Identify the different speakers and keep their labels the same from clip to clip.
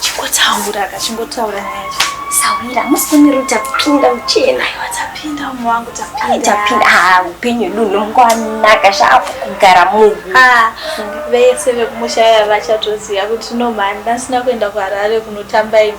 Speaker 1: Chingotaura ka, chingotaura nyaya yacho. Sawira, musi
Speaker 2: kumira utapinda uchena. Aiwa tapinda umwe
Speaker 1: wangu tapinda. Tapinda,
Speaker 2: ah, upenyu hwedu hunongwanaka zvaapo kugara munhu. Ah, vese
Speaker 1: vekumusha vaya vachatoziva kuti no mhani ndasina kuenda kuHarare kunotamba imi.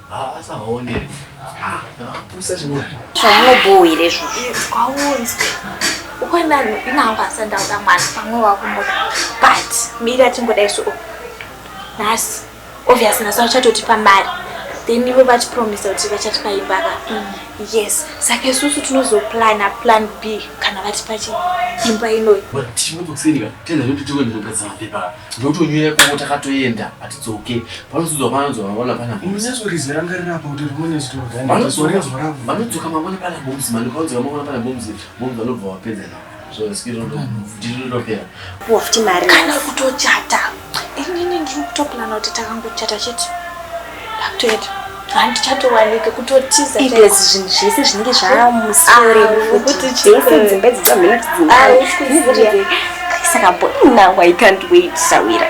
Speaker 3: Zvamubhoo here
Speaker 2: izvozvo? Kwaunzwe
Speaker 1: ukwenda inangu asandauda mwana pamwe wakumuda but mira tingoda isu nhasi obviously nhasi vachatotipa mari then ivo vatipromisa kuti vachatipa imba ka mm. yes saka isusu tinozoplana plan b kana vatipa chi imba inoyi
Speaker 3: ndotonyuya ikoko takatoenda hatidzoke panozodzwa vanonzwa mangwana pana
Speaker 4: vanodzoka mangwana pana
Speaker 3: boms mani panodzoka mangwana pana boms boms vanobva vapedza navo kana
Speaker 2: kutochata
Speaker 1: inini ndiri kutoplana kuti takangochata chete Ndakutoenda. Hanti chatowanika kutotiza. Ibezi zvinhu zvese
Speaker 2: zvinenge zvamusore. Ah, Kuti
Speaker 1: chese dzimba idzi
Speaker 2: dzamhena kuti dzimba. Ah, usikuziya. Saka bo now I can't wait sawira.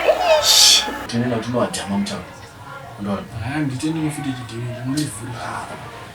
Speaker 2: Tinoenda
Speaker 3: tinowadhama mutauro. Ndori. Ah, nditende mufiti
Speaker 4: chidini. Ndinonivhura.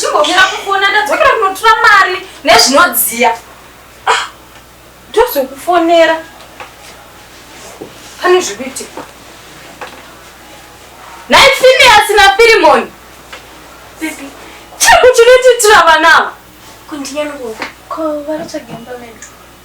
Speaker 1: chimbomira kufona ndadzokera kunotura mari nezvinodziya ah, ndozokufonera pane zvikuitika nai finiasi nafirimoni
Speaker 2: chiriko
Speaker 1: chinotiitira vanavo kundinyaniko
Speaker 2: ko
Speaker 1: vanotsvaga imba medu